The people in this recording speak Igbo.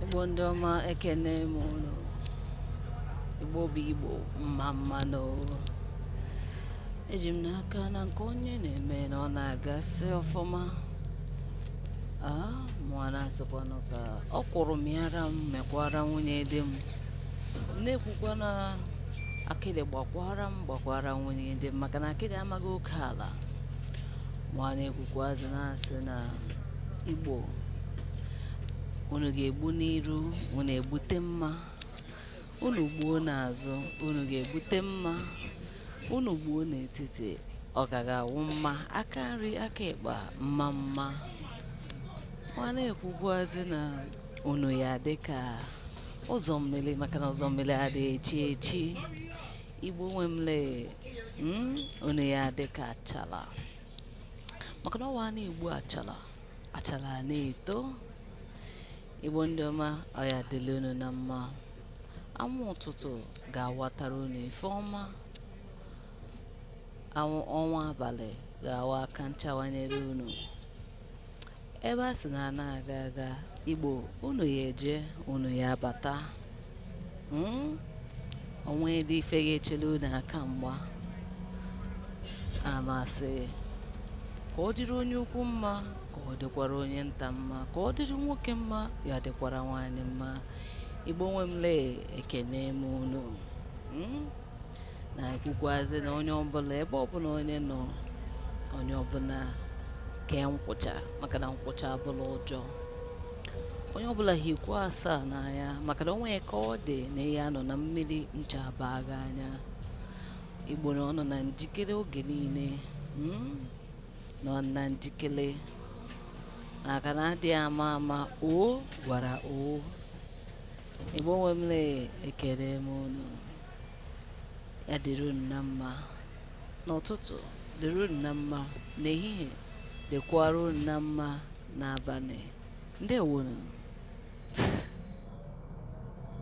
Igbo ndị ọma ekene m unu Igbo bụ Igbo mma mma nụ eji m n'aka na nke onye na-eme na ọ na-agasị ọfụma aa mụwa na-asịkwanụ ka ọkwụrụ mịara m mịkwara nwunye di m na-ekwukwa na akịdị gbakwara m gbakwara nwunye di m maka na akịdị amaghị oke ala mụwa na-ekwukwazi na-asị na Igbo unu ga-egbu n'iru unu egbute mma unu gbuo n'azụ unu ga-egbute mma unu gbuo n'etiti ọ ga-awụ mma aka nri aka ịkpa mma mma ma na-ekwukwazị na unu ya-adị ka ụzọ mmiri maka na ụzọ mmiri adịghị echi echi igbo nwe m lee unu ya-adị ka achala maka na ọ wụ a na-egbu achala achala a na-eto igbo ndị ọma ọ ya-adịlị unu na mma anwụ ụtụtụ ga-awatara unu ife ọma ọnwa abalị ga-awa aka nchawanyere unu Ebe a sị na a na-aga aga Igbo unu ya-eje unu ya-abata Hmm? o nwedị ife ga-echele unu aka mgba ana m asị ka ọ dịrị onye ukwu mma ka ọ dịkwara onye nta mma ka ọ dịrị nwoke mma ya dịkwara nwaanyị mma igbo nwe m lee ekene m unu Hmm? na-ekwukwazị na onye ọbụla ebe ọbụla onye nọ onye ọbụla kee nkwụcha maka na nkwụcha abụla ụjọ onye ọbụla hikwa asaa n'anya maka na o nwe ka ọ dị na ị ya-anọ na mmiri ncha abaa gị anya igbo na ọ nọ na njikere oge niile mm, nọ na njikere maka na adịghị ama ama o gwara o Igbo nwe m lee ekene m unu ya dịrị unu na mma n'ụtụtụ dịrị unu na mma n'ehihie dịkwara unu na mma n'abalị ndewonụ